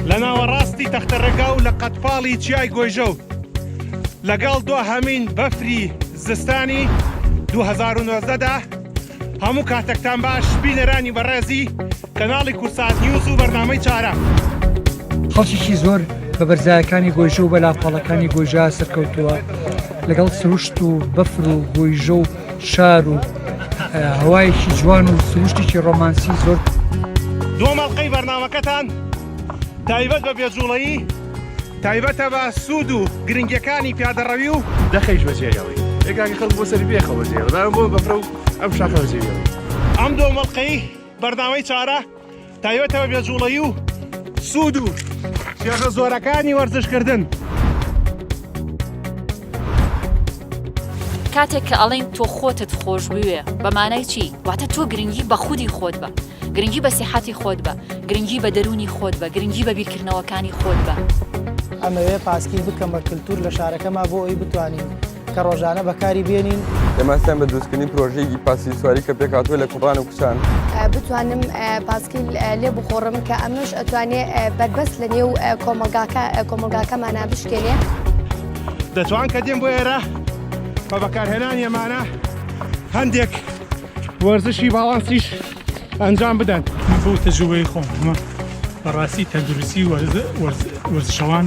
لە ناوەڕاستی تەختەرەگا و لە قەتپاڵی چیای گۆیژە و لەگەڵ دو هەمین بەفری زستانی 2009دا هەموو کاتەکتان باش بینەرانی بەڕێزی کەناڵی کوردسات نیوز و بەرنامەی چارە. خەڵکیی زۆر بە بەرزایەکانی گۆیژە و بە لاپەڵەکانی گۆیژە سەرکەوتووە لەگەڵ سروشت و بەفر و گۆیژە و شار و هەوایەکی جوان و سروشتێکی ڕۆمانسی زۆر دۆمەڵقەی بەرنمەکەتان تایبەت بە بێجوڵەیی تایبەتە بە سوود و گرنگەکانی پیادەڕەوی و دەخەیش بەجێیەوەی ئێکاکی خەڵک بۆ سەری بێخەوە جێ بەداە بۆ بەفرە و ئەم شاخەوە جێیەوەی ئەم دۆمەڵقەی بەرنامەی چارە تایبەتەوە بێجوڵەی و سوود و شێخە زۆرەکانی وەرزشکردن. کاتێک کە ئەڵین تۆ خۆتت خۆش بوێ بەمانای چی واتە تۆ گرنگی بە خودی خۆت بە گرنگی بە سیحەتی خۆت بە گرنگی بە دەرونی خۆت بە گرنگی بە بیرکردنەوەکانی خۆت بە ئەمەوێ پاسکی بکەمە کللتور لە شارەکەما بۆ ئەوی بتوانین کە ڕۆژانە بەکاری بێنین. دەمانستان بە دروستکردنی پرۆژەیەکی پاسکیل سواری کە پێکهاتووە لە کوڕان و کچان. بتوانم پاسکیل لێ بخۆڕم کە ئەمەش ئەتوانێ بەربەست لە نێو کۆمەلگاکە کۆمەلگاکەمانە بشکێنێ. دەتوان کە دێن بۆ ئێرە بە بەکارهێنان یەمانە هەندێک وەرزشی باڵانسیش ئەنجام بدەن. من بۆ تەجوبەی خۆم بەڕاستی تەندروستی وەرزشەوان